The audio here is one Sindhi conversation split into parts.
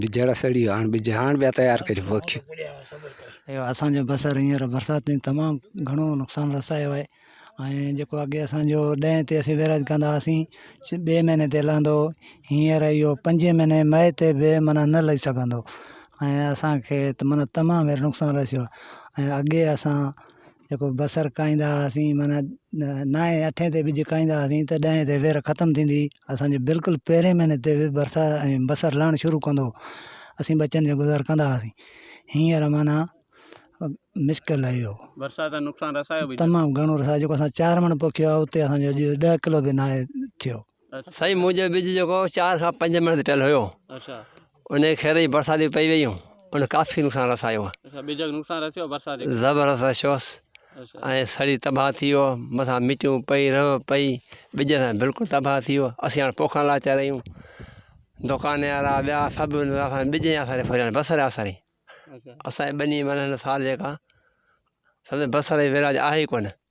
ٻجهڙا سڙي ويا هاڻ ٻج هاڻ ٻيا تيار ڪريون پوکيون ايو اسانجو بصر هينئر برساتن تمام گهڻو نقصان رسايو آهي ۽ جيڪو اڳي اسانجو ڏهين تي اسين ويراڄ ڪندا هئاسين ٻئي مهيني تي لهندو هو هينئر ايو پنجين مهيني مئي تي به معنيٰ نه لهي سگهندو ۽ اسانکي معنيٰ تمام هينئر نقصان رسيو آهي ۽ اڳي اسان جيڪو بصر کائيندا هئاسين معنيٰ نائين اٺين تي ٻج کائيندا هئاسين ته ڏهين تي وير ختم ٿيندي هئي اسانجي بلڪل پهرين مهيني تي به برسا ۽ بصر لهڻ شروع ڪندو هو اسين ٻچن جو گذر ڪندا هئاسين هينئر معنيٰ مشڪل آهي اهو برسات نقصان رسايو تمام گهڻو رسايو جيڪو اسان چار مڻ پوکيو آهي اتي اسانجو اڄ ڏهه ڪلو به ناهي ٿيو سائين منهنجو ٻج جيڪو چار کان پنج مهينن تي پيل هيو ان کي خيري برساتي پئي ويون ان ڪافي نقصان رسايو زبردست رسيوس ۽ سڙي تباهه ٿي ويو مٿان مٽيون پئي رهو پئي ٻج سان بلڪل تباهه ٿي ويو اسين هاڻي پوکا لاچا رهيون دڪان وارا ٻيا سڀ ٻج جي آساري ڦريا بصر جي آساري اسانجي ٻني مانا هن سال جيڪا سمجهو بصر جي ويراج آهي ئي ڪونه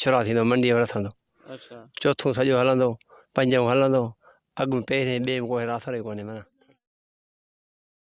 شروع ٿيندو منڊيء ۾ رٿندو چوٿون سڄو هلندو پنجون هلندو اڳ ۾ پهرين ٻئي ۾ ڪو هير آسرو ئي ڪونهي معنيٰ.